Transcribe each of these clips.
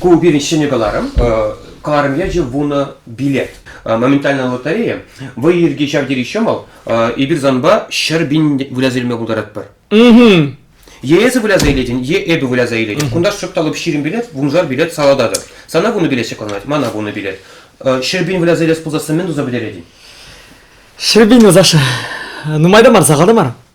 ку пирӗн ҫӗнӗ кӑларӑм. Кӑларӑм ячӗ вунӑ билет. Моментальная лотерея. Вӑй ирӗке ҫав тери ҫӑмӑл. Эпир санпа ҫӗр пин выляса илме пултаратпӑр. Е эсӗ выляса илетӗн, е эпӗ выляса илетӗп. Кунташ шӑпталӑп ҫирӗм билет, вуншар билет салататӑп. Сана вунӑ билет ҫӑкӑлланать, мана вунӑ билет. Ҫӗр пин выляса илес пулсассӑн мӗн туса пӗтеретӗн? Ҫӗр пин, Саша. Нумай та мар, сахал та мар.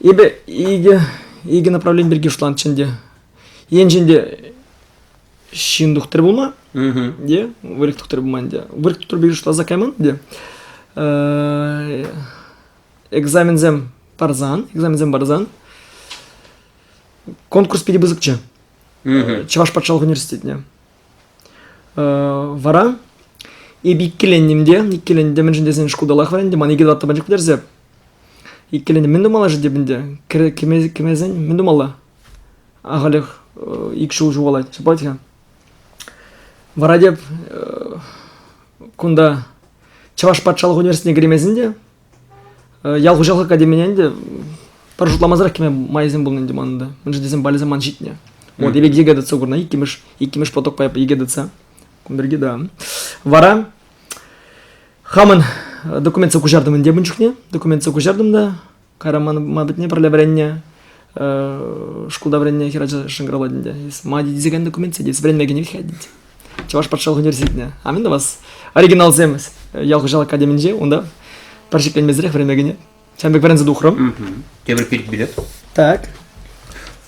Эпӗ икӗ, икӗ направлени пирки шутланӑччӗ ӗнтӗ. Енчен те ҫын тухтӑр пулма, те выльӑх тухтӑр пулма ӗнтӗ. Выльӑх тухтӑр пирки шутласа кайман ӗнтӗ. Экзаменсем парсан, экзаменсем парсан конкурс питӗ пысӑкчӗ. Чӑваш патшалӑх университетне. Вара эпӗ иккӗленнӗм те, иккӗленнӗ те мӗншӗн тесен шкулталах вӗрентӗм, ман икӗ татта пачах пӗтерсе. Иккӗленнӗ, мӗн тумалла-ши теп ӗнтӗ? Кӗмесен мӗн тумалла? Ахалех ик ҫул ҫухалать, ҫапать-ха. Вара теп кунта Чӑваш патшалӑх университетне кӗремесен те Ял хуҫалӑх академине ӗнтӗ пӗр шутламасӑрах кӗме майсем пулнӑ ӗнтӗ манӑн та. Мӗншӗн тесен балӗсем ман ҫитнӗ. Вот эпик ягодица курна иккӗмӗш, иккӗмӗш потокпа ягодица. Кун пирки да. Вара хамӑн документсем куҫартӑм ӗнтӗ ун чухне. Документсем куҫартӑм та кайран ман патне пӗрле вӗреннӗ. шкулта вӗреннӗ хӗрача шӑнкӑравлать ӗнтӗ мади тесекен документсем тет вӗренмеген ӗҫ чӑваш патшалӑх университетне амин да вас оригиналсем ял хуҫалӑх академинче унта пӗр шикленмесӗрех вӗренмегене ҫавӑн пек вӗренсе тухрӑм тепӗр пирки билет так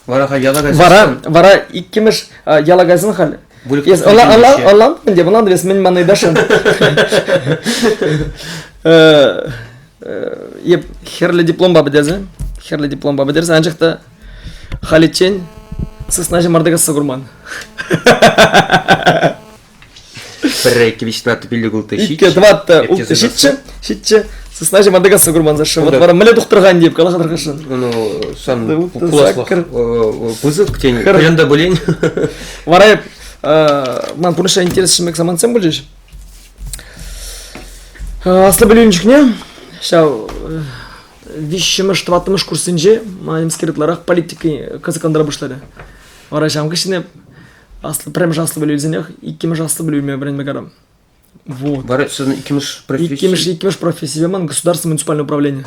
вара халь яла кайсан вара вара иккӗмӗш яла кайсан халь ӑнлантӑм ӗнтӗ ӑнлантӑм ӗнтӗ мӗн мана даша е хӗрлӗ дипломпа пӗтерсен хӗрлӗ дипломпа пӗтерсен анчах та халиччен сысна ҫӑмарта касса курман. Пӗр квична тупилле култы ҫитчӗ. Икке тӑватта ҫитчӗ, ҫитчӗ. Сысна ҫӑмарта касса курман Саша. Вот вара мӗне тухтӑрхан деп калаха тӑрхашсан. Ну, сан пуласлӑх пысӑк тен, каян та булен. Вара ман пурнӑҫра интерес шимек самантсем пулчӗҫ. Аслӑ пӗлӳнӗ чухне ҫав виҫҫӗмӗш, тӑваттӑмӗш курссенче ман нимскер ытларах политика кӑсӑклантара пуҫларӗ. Вара ҫавӑн хыҫҫӑн аслӑ, пӗрремӗш аслӑ пӗлӳ илсенех иккӗмӗш аслӑ пӗлӳ илме вӗренме карам. Вот. Вара иккӗмӗш професси? Иккӗмӗш, иккӗмӗш профессипе ман государство муниципальное управление.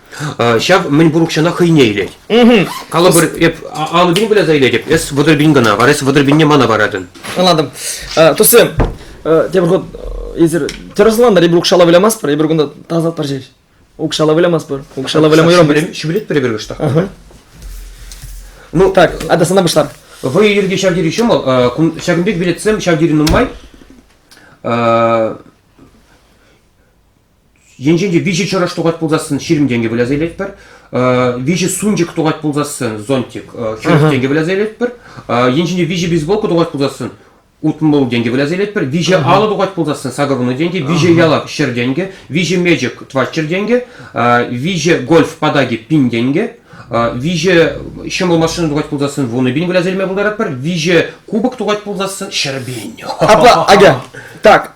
Ҫав мӗнпур укҫана хӑйне илет. Калӑпӑр, эп алӑ пин куляса илетӗп, эс вӑтӑр пин кӑна вара эс вӑтӑр пинне мана паратӑн. Ӑнлантым. Тусем, тепӗр хут эсир тӗрӗслан ребрук шала вылямастпӑр, эпир кунта тасатпӑр ҫеҫ. Укҫала вылямастпӑр, укҫала вылямайрӑм без. Ҫӳлетпӗр эпир кӑштах. Ну, так, а да сана пуҫлар. Вы ирте ҫав тери ҫӑмӑл, ҫакӑн пек билетсем ҫав тери нумай. Енчен те виҫӗ чӑрӑш тухать пулсассӑн ҫирӗм тенкӗ выляса илетпӗр. Виҫӗ сунчӑк тухать пулсассӑн зонтик хӗрӗх тенкӗ выляса илетпӗр. Енчен те виҫӗ бейсболка тухать пулсассӑн утмӑл тенкӗ выляса илетпӗр. Виҫӗ алӑ тухать пулсассӑн сакӑрнӑ тенкӗ, виҫӗ ялак ҫӗр тенкӗ, виҫӗ мечӗк тваччӑр тенкӗ, виҫӗ гольф патаки пин тенкӗ, виҫӗ ҫӑмӑл машина тухать пулсассӑн вунӑ пин выляса илме пултаратпӑр, виҫӗ кубок тухать пулсассӑн ҫӗр пин. Апла, Аня, так,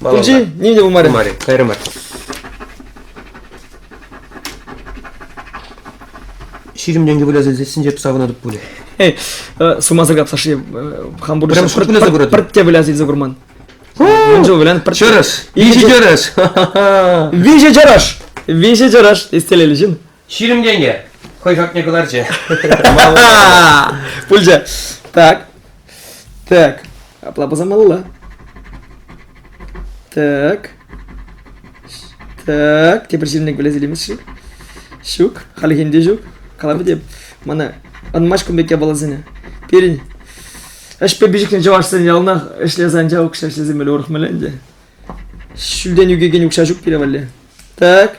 Пулчи, ним те пулмарӗ. Пулмарӗ, кайрӑмӑр. Ҫирӗм тенкӗ выляса илсессинче туса кӑна тӑп пулӗ. Эй, сумаса капсаши хам пурнӑҫа Прям шутнесе курать. пӗртте выляса илсе курман. Мӗн жыл вылян пӗртте. Чӑрӑш, виҫӗ чӑрӑш. Виҫӗ чӑрӑш. Виҫӗ чӑрӑш истелели ҫын. Ҫирӗмлене хӑй хакне кӑларчӗ. Пулчӗ. Так. Так. Апла пӑсамалла. Так. Так. Тепӗр ҫирӗмлек пӗлес илемест-ши? Ҫук. Хальхинде ҫук. Калама тем. Мана ӑнмасть кун пек япаласене. Пирӗн ӗҫпе пиҫӗхнӗ чӑвашсен яланах ӗҫлесе анча укҫа ӗҫлесе меле урӑх меле ӗнтӗ. Ҫӳлтен ӳкекен укҫа ҫук пире валли. Так.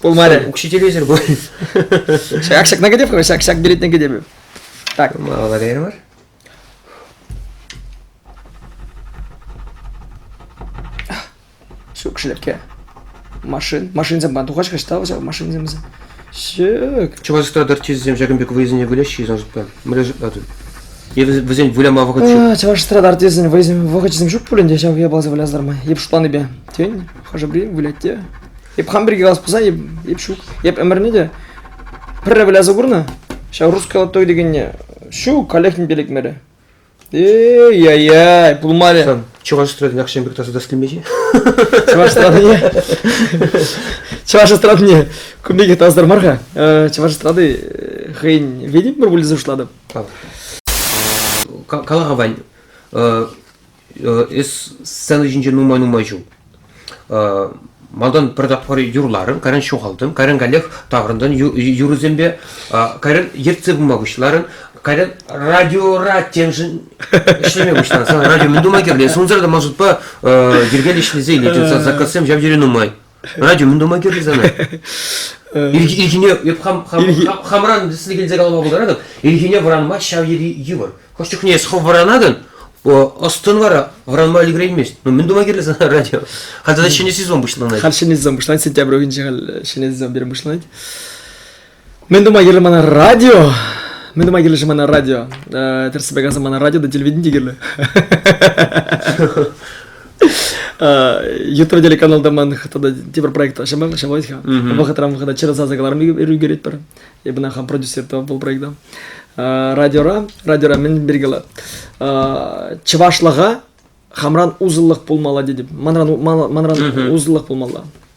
Пулмарӗ. Учителӳсӗр пуль. Ҫак ҫакна кӗтеп-ха, ҫак ҫак беретне кӗтеп. Так. Малалла беремӗр. Ҫук, шӗлерке. Машин, машинсем пан тухаҫ-ха, ҫтав ҫав машинсемсем. Ҫук. Чӑвашстра дартистсем ҫакӑн пек вӑйсене выляҫҫӗ-и, Сашӑпа? Мӗнле шутлатӑр? Вӗсен выляма вӑхӑт ҫук. Чӑвашстра дартистсен вӑйсем вӑхӑчӗсем ҫук пуль ӗнтӗ, ҫав япаласем вылязтар май. Йӗп шутланипе. Тен? хӑшӗ-пӗри вылять те. Эп хам пирки калас пулсан, эп, эп ҫук. Эп ӗмӗрне те пӗрре выляса курнӑ. Ҫав русская той дегенне ҫук, каллех ним те лекмерӗ. Эй-ай-ай, пулмарӗ. Сан чӑваш эстрадин акҫан пек таса тӗслемеҫи? Чӑваш эстрадине Чӑваш эстрадине кун пекех тасатар мар-ха. Э, чӑваш эстрады э, хӑйӗн ведӗм пӗр выльса уҫлатӑп. Кала-ха, Вань, э, эс сцена ҫинче нумай-нумай ҫул малтан пӗр тапхӑр юрларӑм, кайран ҫухалтӑм, кайран каллех таврӑнтӑн юрӑсемпе, кайран ертсе пыма пуҫларӑн, кайран радиора темшӗн ӗҫлеме пуҫланӑ. Сана радио мӗн тума кирлӗ? Эс унсӑр та ман шутпа йӗркеллӗ ӗҫлесе илет, заказсем ҫав тери нумай. радио ун тума кирлӗ сана. Ирхине хамран сире килсе калама пултаратӑн. Ирхине вӑранма ҫав йӗри йывӑр. Хӑш чухне эс хӑв вӑранатӑн, ӑстӑн вара вӑранма ӗлкӗреймест. Ну мӗн тума кирлӗ сана радио? Халь тата ҫӗнӗ сезон пуҫланать. Халь ҫӗнӗ сезон пуҫланать. Сентябрь уйӑхӗнче халь ҫӗнӗ сезон пирӗн пуҫланать. Мӗн тума кирлӗ мана радио? Мӗн тума кирлӗ мана радио? Э, тӗрӗссипе каласан мана радио та телевидени те кирлӗ. Ютро телеканалда ман тата тепӗр проект ҫамал ҫамалать-ха. Вӑхӑтран вӑхӑта чарасаса каларӑм ӳкерет пӗр. Эпӗ хам продюсер та был проекта. Радиора, радиора мӗн бергела. Чӑвашлӑха хамран узллӑх пулмалла дедим. Манран манран узллӑх пулмалла.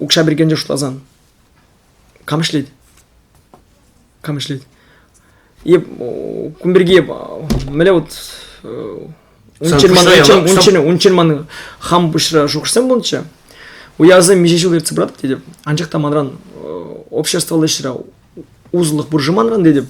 укҫа бергенче шутласан кам ӗҫлет кам ӗҫлет е кун пирки мӗнле вот унччен маны унччен унччен маны хам пуҫра шухӑшсем пулнӑччӗ уявсем миҫе ҫул ертсе пыратӑп тетӗп анчах та манран обществӑлла ӗҫре усӑллӑх пуршыманран тетӗп.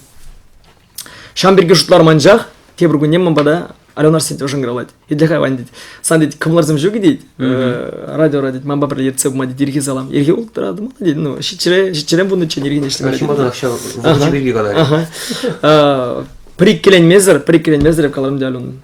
Ҫам пирки шутларым анчах тепӗр кунне ман пата Алена сӗт ӑшӑнкалать. Итле хайван тет. Сан тет кӑмларсем ҫук тет. Радиора тет. Ман папа ертсе пыма тет ирхи салам. Ирхи улттӑрат ман тет. Ну ҫиччӗрен ҫиччӗрен пуннӑччен ирхине ӗҫлемелле. Ҫуматарах ҫав вӑхӑт пирки калать. Пӗр иккеленмесӗр, пӗр иккеленмесӗр каларӑм те Алена.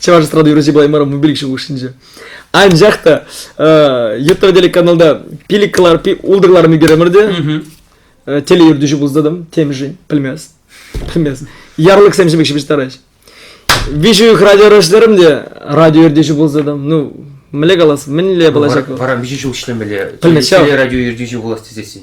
Чӑваш эстрада юрӑҫи пулаймарӑм мобиль ҫул хушшинче. Анчах та Йытыр телеканалда пилик кӑларпи ултӑр кӑларми керемер те телеертӳҫі пулса темшӗн пӗлмест пӗлмест ярлыксемшӗн пек ҫыпӑҫтарать виҫӗ уйӑх радио ӑрашларӑм те радио ертӳҫи пулса там ну мӗнле калас мӗнле пулачак вара виҫӗ ҫул ӗҫлемелле теле радио ертӳҫи пулас тесессӗн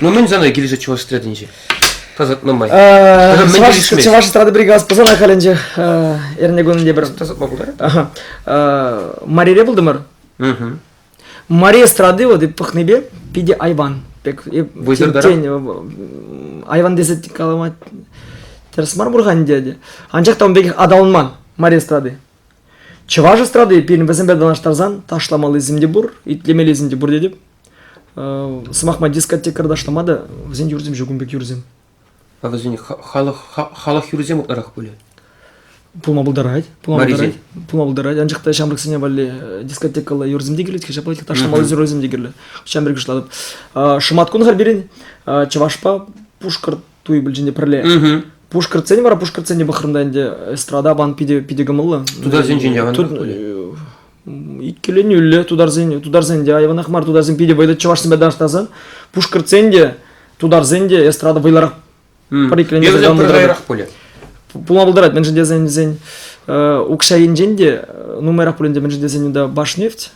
Ну мӗн сана килӗшет чӑваш эстрадинче? Тасатма май. Чӑваш чӑваш эстрада бригадасы пӑсана халӗнче эрне кунӗнче пӗр тасатма пултарать. Марире пултӑмӑр. Мари эстрады вот и пӑхнипе питӗ айван. Пек айван тесе каламать. Тӗрӗс мар пур-ха ӗнтӗ. Анчах та ун пекех аталанман Мари эстрады. Чӑваш эстрады пирӗн вӗсемпе танлаштарсан ташламаллисем те пур, итлемеллисем те пур тетӗп. Сӑмахма дискотекарь ташлама та вӗсен юрсем ҫук ун пек юрсем. А вӗсен халӑх халӑх юрисем ытларах пулӗ. Пулма пултарать. Пулма пултарать. Пулма пултарать. Анчах та ҫамрӑксене валли дискотекӑлла юрсем те килет, ҫапла их ташламалли юрсем те кирлӗ. Ҫамрӑк уҫлатӑп. Шӑмат кун хар пирӗн Чӑвашпа Пушкӑрт туй пӗлчӗнте пӗрле. Пушкӑртсен вара Пушкӑртсене пӑхрӑм та ӗнтӗ эстрада пан питӗ питӗ кӑмӑллӑ. Тутарсенчен те аванрах пулӗ. иккӗленӳллӗ тутарсен, тутарсен те айванах мар тутарсем питӗ вӑйлӑ чӑвашсемпе танлаштарсан пушкӑртсен те тутарсен те эстрада вӑйлӑрах пӗр иккӗленӳ пулать пулма пултарать мӗншӗн тесен вӗсен укҫа енчен те нумайрах пулин те мӗншӗн тесен унта баш нефть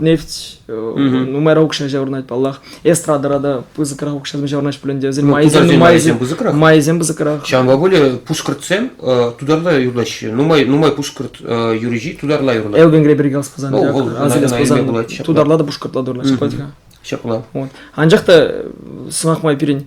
нефть нумайра укҫа ҫаврӑнать паллах эстрадӑра та пысӑкрах укҫа ҫаврӑнаҫ пулин те вӗсен майӗсем майӗсем пысӑкрах майӗсем пысӑкрах ҫавӑнпа более пушкӑртсем тутарла юрлаҫҫӗ нумай нумай пушкӑрт юрӑҫи тутарла юрлать Элбенгре бирге алып пулсан тутарла та пушкӑртла та юрлаҫҫӗ ҫапла ҫапла анчах та сӑмах май пирӗн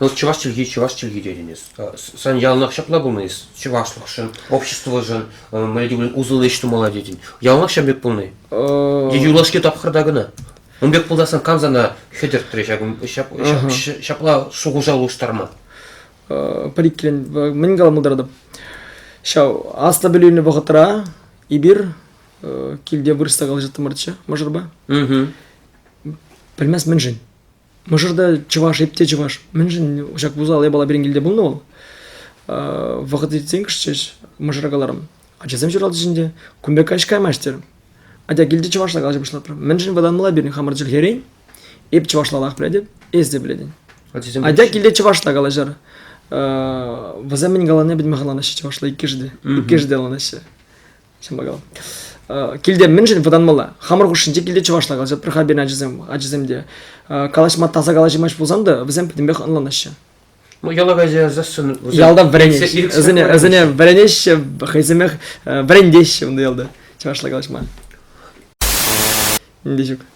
Ну, чӑваш чӗлхи, чӑваш чӗлхи тетӗн эс. Сан яланах ҫапла пулнӑ эс. Чӑвашлӑхшӑн, обществӑшӑн, мӗн тӗклӗн усӑллӑ ӗҫ тумалла тетӗн. Яланах ҫавӑн пек пулнӑ-и? Юлашки тапхӑрта кӑна. Ун пек пултарсан кам сана хӗтӗртрӗ ҫапла шухӑша улӑштарма? Пӗр иккӗлӗн мӗн калама пултаратӑп. Ҫав аслӑ пӗлӳ илнӗ вӑхӑтра эпир килте вырӑсса калаҫаттӑмӑрччӗ мӑшӑрпа. Пӗлмест мӗншӗн. Мӑшӑрта чӑваш, эп те чӑваш. Мӗншӗн ҫак вуза япала пирӗн килте пулнӑ вӑл? Вӑхӑт иртсен мӑшӑра каларӑм. Ачасем ҫуралчӗҫ ӗнтӗ, кун пек каҫ каймасть терӗм. Атя килте чӑвашла калаҫа пуҫлатрӑм. Мӗншӗн вӑтанмала пирӗн хамӑр чӗлхерен? Эп чӑвашларах пӗлетӗп, эс те пӗлетӗн. Атя килте чӑвашла калаҫар. Вӗсем мӗн каланине пӗтме хӑтланаҫҫӗ чӑвашла иккӗшӗ те. Иккӗшӗ те ӑнланаҫҫӗ. ҫапла килте мӗншӗн вӑтанмалла хамӑр хушшинче килте чӑвашла калаҫа пӗр хальберн ачасем ачасем те калаҫма таса калаҫмасть пулсан та вӗсем пӗтӗмпех ӑнланаҫҫӗ яла кайса язассӑн ялта вӗренеҫҫӗ вӗсене вӗсене вӗренеҫҫӗ хӑйсемех вӗрентеҫҫӗ унта ялта чӑвашла калаҫма нинди ҫук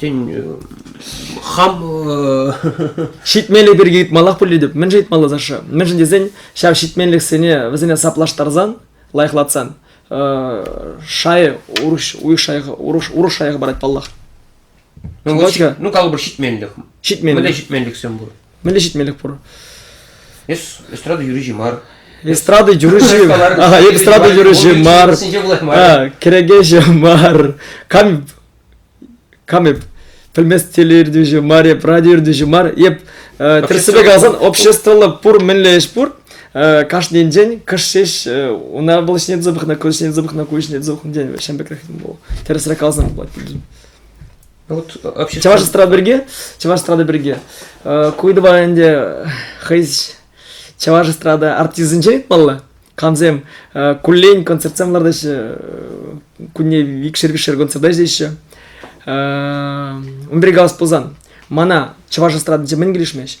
тен хам ҫитмелли пирки ыйтмаллах пуль тетӗп мӗншӗн ыйтмалла саша мӗншӗн тесен ҫав ҫитменлӗхсене вӗсене саплаштарсан лайӑхлатсан шайӗ урӑх уйӑх шайӑха урӑх урӑх шайӑха парать паллах ну калӑпӑр ҫитменлӗх ҫитменлӗх мӗнле ҫитменлӗхсем пур Мӗнле ҫитмелӗх пур? Эстрада юрӑҫи мар. Эстрада юрӑҫи эстрада юрӑҫи мар кӗрекеҫӗ мар кам кам эп пӗлмест телеертӳҫӗ мар эп радиоертӳҫӗ мар эп тӗрӗссипе каласан обществӑлла пур мӗнле ӗҫ пур кашнинчен кӑш ҫеҫ una было снять запах на куҫ снять запах на куҫ снять запах на день ҫавӑн пекрех тӗрӗсрен каласан пулать Вот общество... Чӑваш эстрада пирки? Чӑваш эстрада пирки. Куйдова ӗнтӗ хӑйс чӑваш эстрада артистӗнче ыйтмалла. Камсем куллен концертсем лартаҫҫӗ, кунне викшер-викшер концерта ӗҫлеҫҫӗ. Унтри калас пулсан, мана чӑваш эстрадинче мӗн килӗшмест?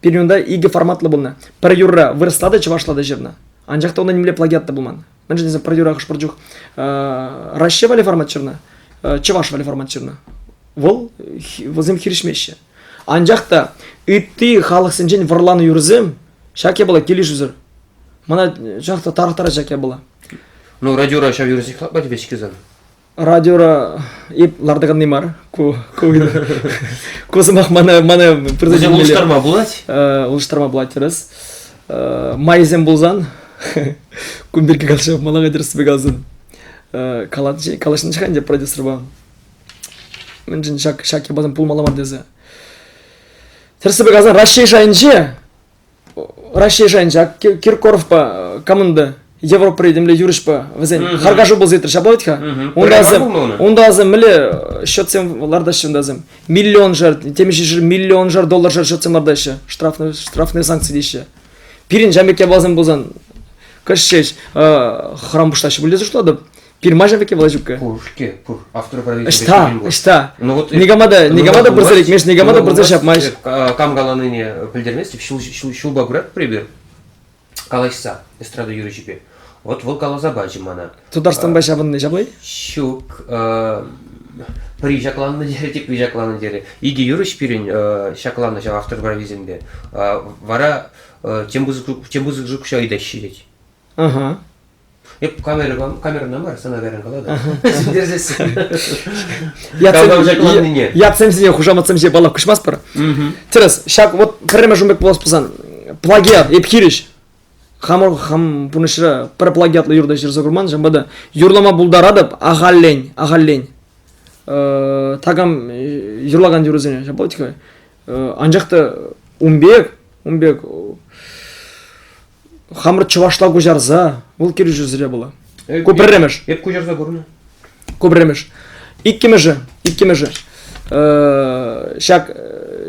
Пирӗн унта икӗ форматлӑ пулнӑ. Пӗр юрра вырӑсла та, чӑвашла та ҫырнӑ. Анчах та унта нимле плагиат та пулман. Мӗншӗн тесен пӗр юра хӑш-пӗр чух Раҫҫей валли формат ҫырнӑ, чӑваш валли формат ҫырнӑ. Вӑл, вӗсем хирӗҫмеҫҫӗ. Анчах та ытти халӑхсенчен вӑрланӑ юрӑсем ҫак япала килӗшӳсӗр. Мана чӑнах та тарӑхтарать ҫак япала. Ну, радиора ҫав юрӑсене хӑтлать веҫ кизан. радиора эп лартаканни мар ку ку ку сӑмах мана мана предложение улӑштарма пулать улӑштарма пулать тӗрӗс майсем пулсан кун пирки калаҫа маларах тӗрӗссипе каласан калаҫнӑ ӗнтӗ продюсерпа мӗншӗн ҫак ҫак япаласем пулмалла мар тесе тӗрӗссипе каласан Раҫҫей шайӗнче Раҫҫей шайӗн ҫак Киркоровпа команда Европӑра темле юрӑҫпа вӗсен харкашу пулса иртрӗ ҫапла вӗт-ха унта унта асем мӗнле счетсем лартаҫҫӗ унта асем миллион шар темиҫе шар миллион шар доллар шар счетсем лартаҫҫӗ штрафный штрафный санкци теҫҫӗ пирӗн ҫамрӑк япаласем пулсан кӗҫҫеҫ храм пуҫтаҫҫӗ пуль тесе шутлатӑп Пирмаҫа веке Влачука. Пур-ке, пур. Автоуправитель. Ӑҫта, ӑҫта? Ну вот, никама да, никама да пырса лекмеш, никама да пырса ҫапмасть. Кам каланине пӗлтермест, ҫулпа пырать пример. Калаҫса эстрада юрӑҫипе. Вот вӑл каласа пачӗ мана. Тутарстанпа ҫапӑнни ҫаплай? Ҫук. Приҫакланнӑ терӗ те приҫакланнӑ терӗ. Икӗ юрӑҫ пирӗн ҫакланнӑ ҫав автор провизинпе. Вара тем пысӑк тем пысӑк жук ҫа ыйтаҫҫӗ тет. Ага. Эп камерӑпа, камерӑна мар, сана кайран калатӑп. Сӳнтерсессӗн. Ятсем ятсемсене хушаматсемсене баллап куҫмастпӑр. Тӗрӗс, ҫак вот пӗрремӗш ун пек пулас пулсан, плагиат эп хирӗҫ хамӑр хам пурнӑҫра пӗр плагиатлӑ юрта ҫырса курман, ҫавӑнпа та юрлама пултаратӑп ахаллен, ахаллен. такам юрлакан юрӑсене ҫаплать-ха. анчах та ун пек, ун пек Хамӑр чӑвашла куҫарса, вӑл килӗшӳсӗре пулӑ. Ку пӗрремӗш. Эп куҫарса курнӑ. Ку пӗрремӗш. Иккӗмӗшӗ, иккӗмӗшӗ. Ҫак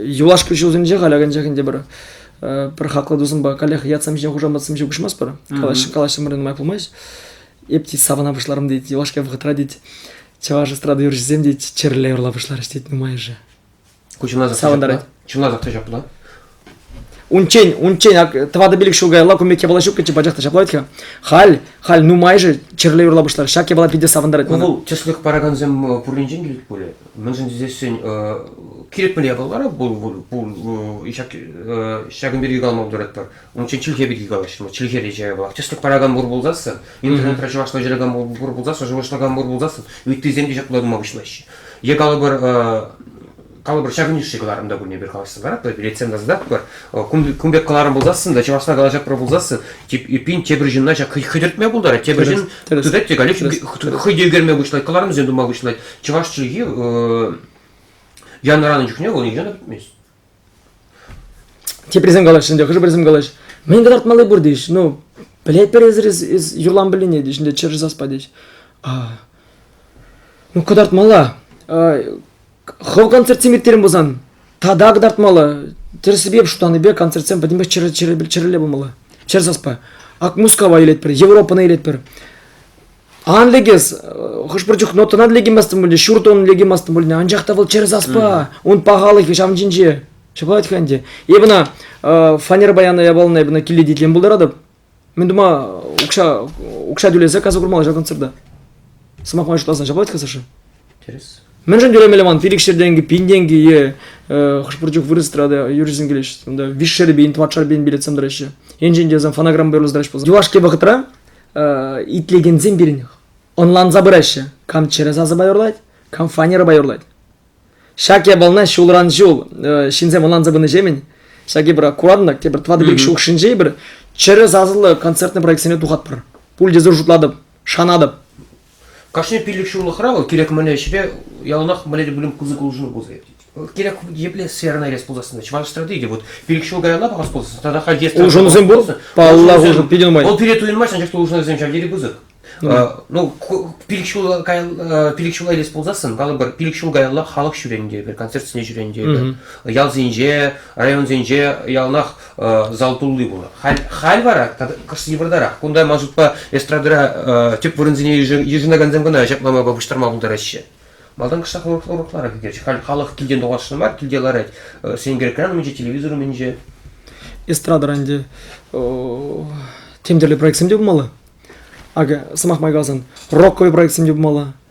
юлашки ҫулсенче халь акӑнчах ӗнтӗ пӗр пӗр хаклӑ тусӑмпа каллех ятсем ҫинчен хушаматсем ҫеҫ куҫмасть пӗр. Калаҫ калаҫсамӑр нумай пулмасть. Эп тет савӑна пуҫларӑм тет, юлашки вӑхӑтра тет чӑваш эстрада юрҫисем тет чӗрле юрла пуҫларӗҫ тет нумайӑшӗ. Ку савӑнтарать. Чунласах та ҫапла. Унччен, унччен тӑватӑ пилӗк ҫул каялла ку мек япала ҫуккӑччӗ, пачах та ҫапла вӗт-ха. Халь, халь нумайӑшӗ чирле юрла пуҫлар. Ҫак япала питӗ савӑнтарать мана. Ну, чесник паракансем пурринчен килет пулӗ. Мӗншӗн тесессӗн кирек мӗнле япалалара пур, ҫакӑн пирки калама пултаратпӑр. Унччен чӗлхе пирки калаҫрӑмӑр. Чӗлхере чаевах. Тӗслӗх паракан пур пулсассӑн, интернетра чӑвашла ҫыракан пур пулсассӑн, шухӑшлакан пур пулсассӑн, ыттисем те ҫапла тума пуҫлаҫҫӗ. Е калӑпӑр, калӑпӑр ҫак ӗнтӗшсе кӑларӑм та пурне пир калаҫса паратпӑр, билетсем та сататпӑр. кун пек кӑларӑм пулсассӑн та чӑвашла калаҫатпӑр пулсассӑн, тип эппин тепӗр ҫынна ҫак хӑтӗртме пултарать, тепӗр ҫын тытать те каллех хӑй те ӳкерме пуҫлать, кӑларӑмсем тума пуҫлать. Чӑваш чӗлхи янӑранӑ чухне вӑл нихӑҫан та пӗтмест. Теприсем калаҫҫӗ ӗнтӗ, хӑшӗ-пӗрисем калаҫҫӗ. Мӗн кӑтартмалли пур тӗҫ. Ну, пӗлетпӗр эсир эс, эс юрлам пӗлнине, тӗҫ, ӗнтӗ чӗр саспа тӗҫ. А, ну кӑтартмалла. хӑв концертсем ирттерен пулсан, тата кӑтартмалла. Тӗрӗсипе шутланипе концертсем пӗтӗмпех чӗр, чӗр, чӗрелле пулмалла. Чӗр саспа. Ак Мускава илетпӗр, Европӑна илетпӗр. Ан лекес, хӑш-пӗр чух нотӑна лекиместӗн пулӗ, ҫуртӑн лекиместӗн пулӗ, анчах та вӑл чӗрӗс аспа, ун пахалӑхӗ ҫав ҫинче. Ҫапалать-ха ӗнтӗ. Эпӗ ӑна фанера паяна явалнӑ эпӗ ӑна киле итлем пултаратӑп. Мӗн тума укҫа укҫа тӳлесе касса курмалла ҫак концерта. Сӑмахма шутласан ҫапалать-ха Саша? Тӗрӗс. Мӗншӗн тӳлемелле ман? Пилӗк ҫӗр тенкӗ, пин тенкӗ е хӑш-пӗр чух вырӑс эстрада юрҫисем килеҫҫӗ. Унта виҫ шербейн, тӑватшар пейн билетсем тӑраҫҫӗ. Енчен те сан фонограмма уйӑрласа тӑраҫ пулсан. Юлашки вӑхӑтра итлекенсем пирӗн ӑнланса пыраҫҫӗ. Кам чӗрӗ сасӑпа юрлать, кам фанерӑпа юрлать. Ҫак япалана ҫулран ҫул ҫынсем ӑнланса пынӑҫемӗн ҫак эпир куратӑн тепӗр тӑватӑ-пилӗк ҫул хушшинче эпир чӗрӗ сасӑллӑ концертный проектсене тухатпӑр. Пуль те зур шутлатӑп, шанатӑп. Кашни пиллӗк ҫуллӑхра вӑл кирек мӗнле ӗҫре яланах мӗнле те пулин пысӑк улшӑну пулса иртет. Кирек епле сферӑна ирес пулсассӑн чӑваш эстрадиде вот пилӗк ҫул каялла пӑхас пулсассӑн тата халь естра улшӑнусем пур паллах улшӑн питӗ нумай вӑл пире туйӑнмасть анчах та улшӑнусем ҫав тери пысӑк ну пилӗк ҫул пилӗк ҫула илес пулсассӑн калӑпӑр пилӗк ҫул каялла халӑх ҫӳренӗ те эпир концертсене ҫӳренӗ те эпир ялсенче районсенче яланах зал тулли пулнӑ. Халь, халь вара кӑшт йывӑртарах. Кунта, ман шутпа, эстрадӑра тӗп вырӑнсене йышӑнакансем кӑна ҫапла майпа пуҫтарма пултараҫҫӗ. Малтан кӑштах уроклара кӗтет. Халь халӑх килтен тухасшӑн мар, килте ларать. Сенкер умӗнче, телевизор умӗнче. Эстрада ӗнтӗ тем тӗрлӗ проектсем те пулмалла. Акӑ, сӑмах май каласан, рокковый проектсем те пулмалла.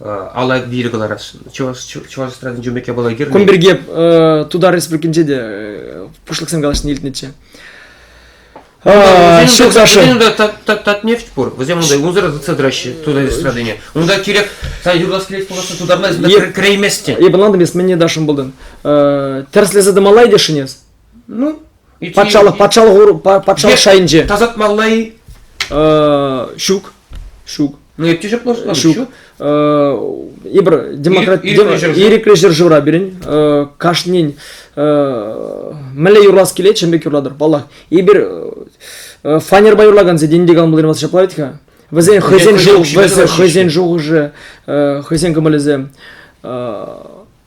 Алла вилӗ кӑларас. Чӑваш Чӑваш эстрадин журнак япала кирлӗ. Кун пирки Тутар Республикинче те пуҫлӑхсем калаҫни илтнӗччӗ. Ҫук, Даша. Вӗсем татнефть пур. Вӗсем унта унсӑр тытса тӑраҫҫӗ тутар эстрадине. Унта кирек сан юрлас килет пуласса тутарма кӗреймест те. Эп ӑнлантым эс мӗнне Дашӑм булдын. Тӗрӗслесе тӑмалла тесшӗн эс? Ну, патшалӑх патшалӑх патшалӑх шайӗнче. Тасатмалла-и? Ҫук. Ҫук. Ну, эпте жеплошла. Ҫук. Ибр демократ ирӗклӗ ҫӗршывра пирӗн кашнин мӗнле юрлас килет чӑн пек юрлатӑр паллах эпир фанерпа юрлакан сеть инди калмӑллинваса ҫапла вӗт-ха вӗсен хӑйсен хӑйсен шухӑшӗ хӑйсен кӑмӑлӗсем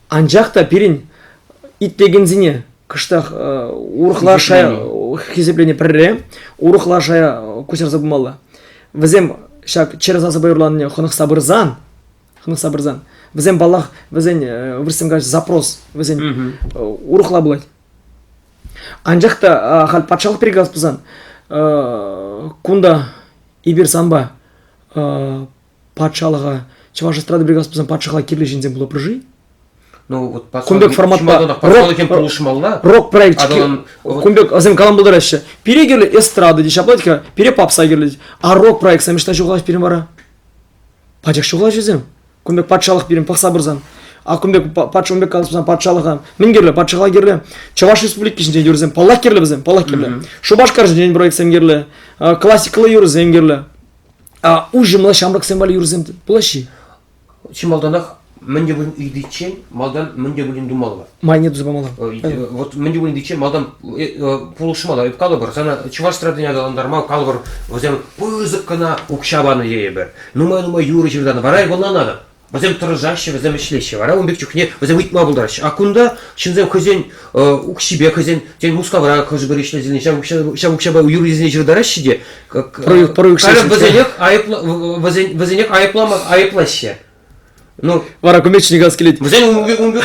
Анчах та пирӗн итлекенсене кӑштах урӑхла шая хисеплене пӗрре урӑхла шая куҫарса пымалла. Вӗсем ҫак чӗр сасӑпа юрланине хӑнӑхса пырсан, хӑнӑхса пырсан, вӗсем паллах вӗсен вырӑссем калаҫ запрос вӗсен урӑхла пулать. Анчах та халь патшалӑх пирки калас пулсан кунта эпир санпа патшалӑха, чӑваш эстрада бригадасы пулсан патшалӑха кирлӗ ҫынсем пулӑпӑр-ши? Ну вот кун пек форматпа патшалӑхем пулӑшмалла. Рок проектчики кун пек асем калам пултараҫҫӗ. Пире кирлӗ эстрада теҫҫӗ апла пире попса кирлӗ. А рок проектсем ӑҫта ҫухалаҫ пирӗн вара? Пачах ҫухалаҫ вӗсем. Кун пек патшалӑх пирӗн пӑхса пырсан. А кун пек патша кун пек калас патшалӑха мӗн кирлӗ? Патшалӑха кирлӗ. Чӑваш Республики ҫинчен юрӑсем паллах кирлӗ вӗсем, паллах кирлӗ. Шупашкар ҫинчен проектсем кирлӗ. Классикаллӑ юрӑсем кирлӗ. А уҫӑмла ҫамрӑксем валли юрӑсем пулаҫҫӗ-и? Чи малтанах мӗн те пулин ыйтиччен малтан мӗн те пулин тумалла. Майне туса памалла. Э, вот мӗн те пулин ыйтиччен малтан пулӑшмалла. Эп калӑпӑр, сана чӑваш эстрадине аталантарма калӑпӑр, вӗсем пысӑк кӑна укҫа панӑ тейӗпӗр. Нумай-нумай юрӑ ҫыртанӑ. Вара ывӑлна надо. Вӗсем тӑрӑшаҫҫӗ, вӗсем ӗҫлеҫҫӗ. Вара ун пек чухне вӗсем ыйтма пултараҫҫӗ. А кунта ҫынсем хӑйсен э, укҫипе, хӑйсен, тен, Мускавра хӑшӗ-пӗр ӗҫлесе ҫав укҫа, ҫав укҫапа юррисене ҫыртараҫҫӗ те. Халӗ вӗсенех айӑпла, вӗсен, вӗсенех айӑплама, айӑплаҫҫӗ. Ну, вара кумечник ас килет. Вӗсен ун пек, ун пек,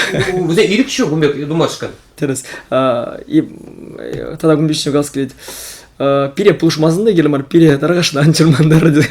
вӗсен ирӗк ҫук ун пек тумашкӑн. Тӗрӗс. Тата кумечник ас килет. Пире пулӑшмасӑн да келе мар, пире таркашна ан чӑрмантар тет.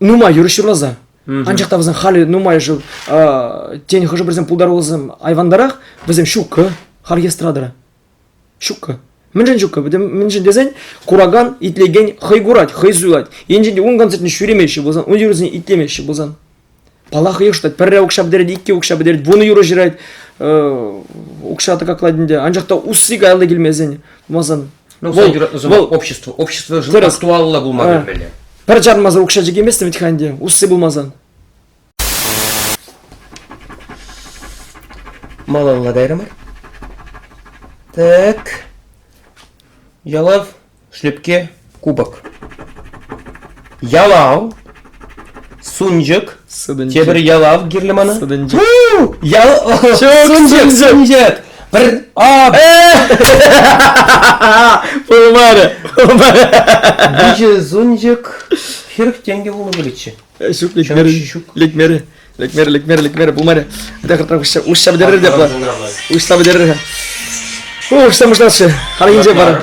нумай юрӑҫ юрласа. Анчах та вӗсем халӗ нумайӑшӗ тен хӑшӗ-пӗрисем пултарулласем айвандарах, вӗсем ҫуккӑ, хальхи эстрадӑра. Ҫуккӑ. Мӗншӗн ҫуккӑ? Мӗншӗн тесен куракан, итлекен хӑй курать, хӑй суйлать. Енчен те ун концертне ҫӳремеҫҫӗ пулсан, ун юрӑсене итлемеҫҫӗ пулсан. Паллах, йӑштать. Пӗрре укҫа пӗтерет, икке укҫа пӗтерет, вунӑ юрӑ ҫырать. Укҫа тӑкаклать ӗнтӗ. Анчах та усси каялла килмесен, пулмасан Ну, вӑл, юратнӑ сӑмах вӑл, общество. Общество вырӑс, актуаллӑ пулма а, кӗтмелле. Пӗр чармасӑр укҫа чикемест вӗт-ха ӗнтӗ, усси пулмасан. Малалла кайрӑм. Так. Ялав, шлепке, кубок. Ялав, Сунчӑк. Тепӗр ялав кирлӗ мана. Сутӑнчӑк. Ял сунчӑк сунчӑк. Пӗр ап. Пулмарӗ. Виҫӗ сунчӑк хирӗх тенкӗ пулнӑ пулӗччӗ. Ҫук лекмерӗ. Лекмерӗ. Лекмерӗ, лекмерӗ, лекмерӗ пулмарӗ. Тахӑртан уҫса пӗтерер те. Уҫса пӗтерер. Уҫса пуҫласчӗ. Халь инҫе пар.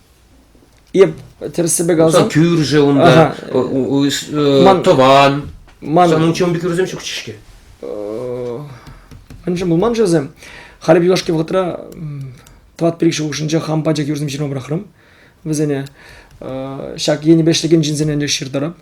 Эп тӗрӗссипе каласан. кӳршӗ унта, тӑван. Манӑн учён пек юрӑсем ҫук-ҫке. Анчах пулман-ши вӗсем? Халӗ юлашки вӑхӑтра тӑват пӗр-икӗ хушшинче хам пачах юрсем ҫырма пӑрахрӑм вӗсене. Ҫак енӗпе ӗҫлекен ҫынсене ӗнтӗ ҫыртарап.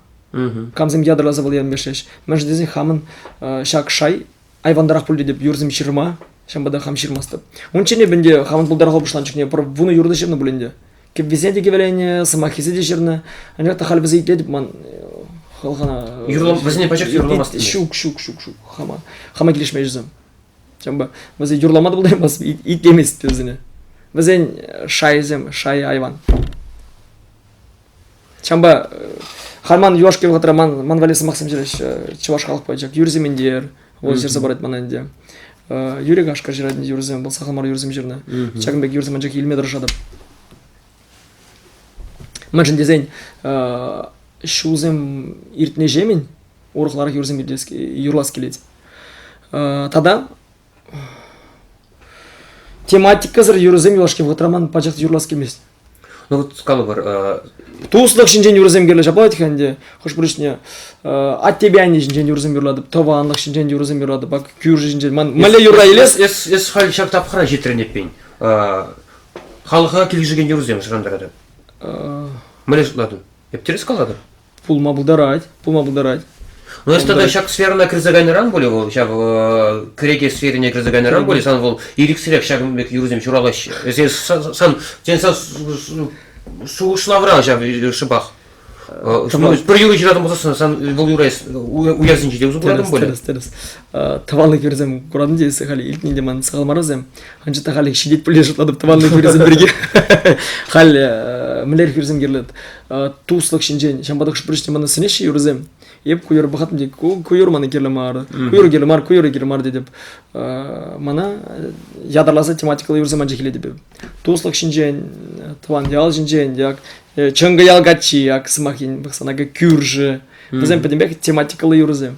Камсем ятарласа вӑл енпе ӗҫлеҫ. Мӗншӗн тесен хамӑн ҫак шай айвандарах пуль тетӗп юрсем ҫырма ҫавӑнпа та хам ҫырмастӑп унччен эп ӗнтӗ хамӑн пултарулӑха пуҫланӑ чухне пӗр вунӑ юрӑ та ҫырнӑ пуль ӗнтӗ кӗввисене те кӗвӗленӗ сӑмаххисем те ҫырнӑ анчах та халь вӗсем итлетӗп ман э, хӑлхана юрлав вӗсене пачах юрламасть ҫук ҫук ҫук ҫук хама хама килӗшмест вӗсем ҫавӑнпа вӗсен юрлама та пултараймасть итлемест вӗсене вӗсен шайӗсем шайӗ айван Ҫавӑнпа халь ман юлашки вӑхӑтра ман ман валли сӑмахсем ҫырать чӑваш халӑх поэчӗ Юрий Сементер вӑл ҫырса парать мана ӗнтӗ Юрий Кашкӑр ҫыратнӑ юрӑсем вӑл сахал мар юрӑсем ҫырнӑ ҫакӑн пек юрӑсем анчах илме тӑрӑшатӑп мӗншӗн тесен ҫулсем иртнӗҫемӗн урӑхларах юрӑсем юрлас килет тата тематикӑсӑр юрӑсем юлашки вӑхӑтра ман пачах юрлас килмест. Ну вот калӑпӑр. Э, Туслӑх ҫинчен юрӑсем кирлӗ ҫапать-ха ӗнтӗ. Хӑш-пӗр ӗҫне э, аттепе анне ҫинчен юрӑсем юрлатӑп, тӑванлӑх ҫинчен юрӑсем юрлатӑп, ак кӳрши ҫинчен. Ман мӗнле юрра илес? Эс эс халь ҫак тапхӑра ҫитрӗн эппин. Э, халӑха килӗшекен юрӑсем шӑрантаратӑп. Мӗнле шутлатӑн? Эп тӗрӗс калатӑп. пулма пултарать, пулма пултарать. Ну, если тогда ҫак сферӑна кӗрсе кайнӑран пулӗ вӑл, ҫак кӗреке сферине кӗрсе кайнӑран пулӗ, сан вӑл ирӗксӗрех ҫак пек юрсем ҫуралаҫҫӗ. Эсир сан, тен, сан шухӑшлавра ҫав шӑпах. Пӗр юрӑ ҫыратӑн пулсассӑн сан вӑл юра уярсенче те усӑ куратӑн пулӗ. Тӗрӗс, тӗрӗс. Тӑванлӑх юрӑсем куратӑн те эсӗ халь илтни те ман сахал мар вӗсем. анчах та халӗ ҫитет пулин шутлатӑп тӑванлӑх хӳрисем пирки халь э, мӗнлер хӳрисем кирлӗ э, туслӑх ҫинчен ҫавӑнпа та хӑш-пӗр ҫынсем мана сӗнеҫҫӗ юрӑсем эп ку юрӑ пӑхаттӑм тет ку юр мана кирлӗ мар ку юрӑ кирлӗ мар ку юрӑ кирлӗ мар тетӗп э, мана ятарласа тематикӑллӑ юрӑсем анчах илетӗп туслӑх ҫинчен тӑван ял ҫинчен як чӑнкӑ ял каччи ак сӑмах пӑхсан кӳрши вӗсем пӗтӗмпех тематикӑллӑ юрӑсем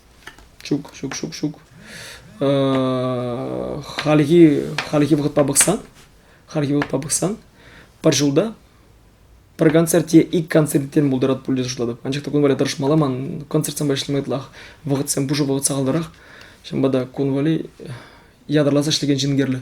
Ҫук, ҫук, ҫук, ҫук. Хальхи, хальхи вӑхӑтпа пӑхсан, хальхи вӑхӑтпа пӑхсан пӗр ҫулта пӗр концерт е ик концерттен пултарать пуль тесе шутлатӑп. Анчах та кун валли тӑрӑшмалла ман концертсемпе ӗҫлеме ытлах. Вӑхӑтсем пушӑ вӑхӑт сахалтарах. Ҫавӑнпа та кун валли ятарласа ӗҫлекен ҫын кирлӗ.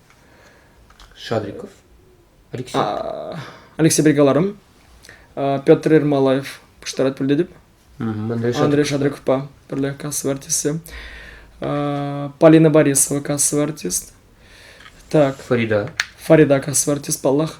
Шадриков, Алексей. Алексей Бригаларым, Петр Ермолаев пуҫтарать пӗлтетӗп. Андрей Шадриковпа пӗрле кассовый артисты. Полина Борисова кассовый артист. Так. Фарида. Фарида кассовый артист, паллах.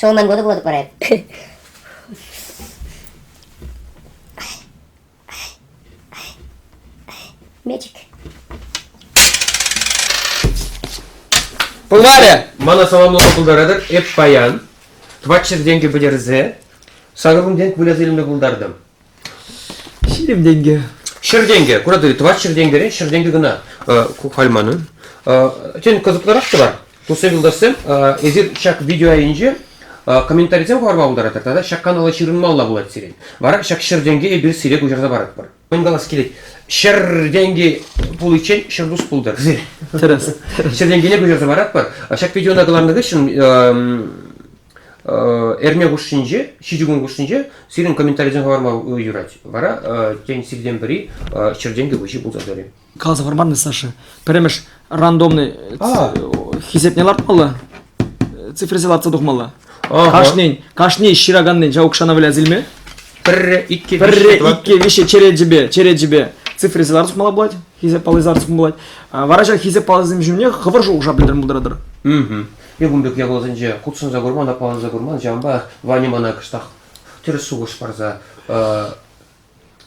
Ҫавӑнтан кӑтӑклатӑп парать. Мечик. Пыларӗ! Мана саламлама пултаратӑр эп паян. Тӑватҫӗр тенкӗ пӗтерсе, сарӑлӑм тенк выляса илме пултартӑм. Ҫирӗм тенкӗ. Ҫӗр тенкӗ. Куратӑр, тӑват ҫӗр тенкӗрен ҫӗр тенкӗ кӑна ку халь манӑн. Тен, кӑсӑклӑрах та бар. Туссем, юлташсем, эсир ҫак видео айӗнче комментарисем хӑварма пултаратӑр тата ҫак канала ҫырӑнмалла пулать сирӗн. Вара ҫак ҫӗр тенкӗ эпир сире куҫарса паратпӑр. Мӗн калас килет, ҫӗр тенкӗ пуличчен ҫӗр тус пултӑр сир. Тӗрӗс. Ҫӗр тенкӗне куҫарса паратпӑр. Ҫак видеона кӑларнӑ хыҫҫӑн Эрне хушшинче, ҫичӗ кун хушшинче сирӗн комментарисем хӑварма юрать. Вара тен сиртен пӗри ҫӗр тенкӗ выҫи пулса тӑрӗ. Каласа хӑварман-и, Саша? Пӗрремӗш рандомный хисепне лартмалла, цифрӑсем лартса тухмалла. Кашнин, кашни ҫыраканнин ҫав укҫана выляс илме. Пӗрре, икке, пӗрре, икке, виҫе черечӗпе, черечӗпе цифрӑсем лартса тухмалла пулать, хисеп паллисем лартса тухмалла пулать. Вара ҫак хисеп паллисем ҫумне хӑвӑр шухӑша пӗлтерме пултаратӑр. Юхӑм пек япаласенче хутшӑнса курман, аппаланса курман. Ҫавӑнпа Ваня мана кӑштах тӗрӗс шухӑш парса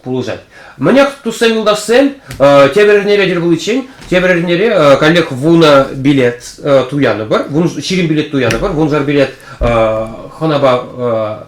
пулӑшать. Мӗнех, туссем, юлташсем, тепӗр эрнере тӗл пуличчен тепӗр эрнере коллег вунӑ билет туянӑпӑр, вун, ҫирӗм билет туянӑпӑр, вуншар билет хӑнапа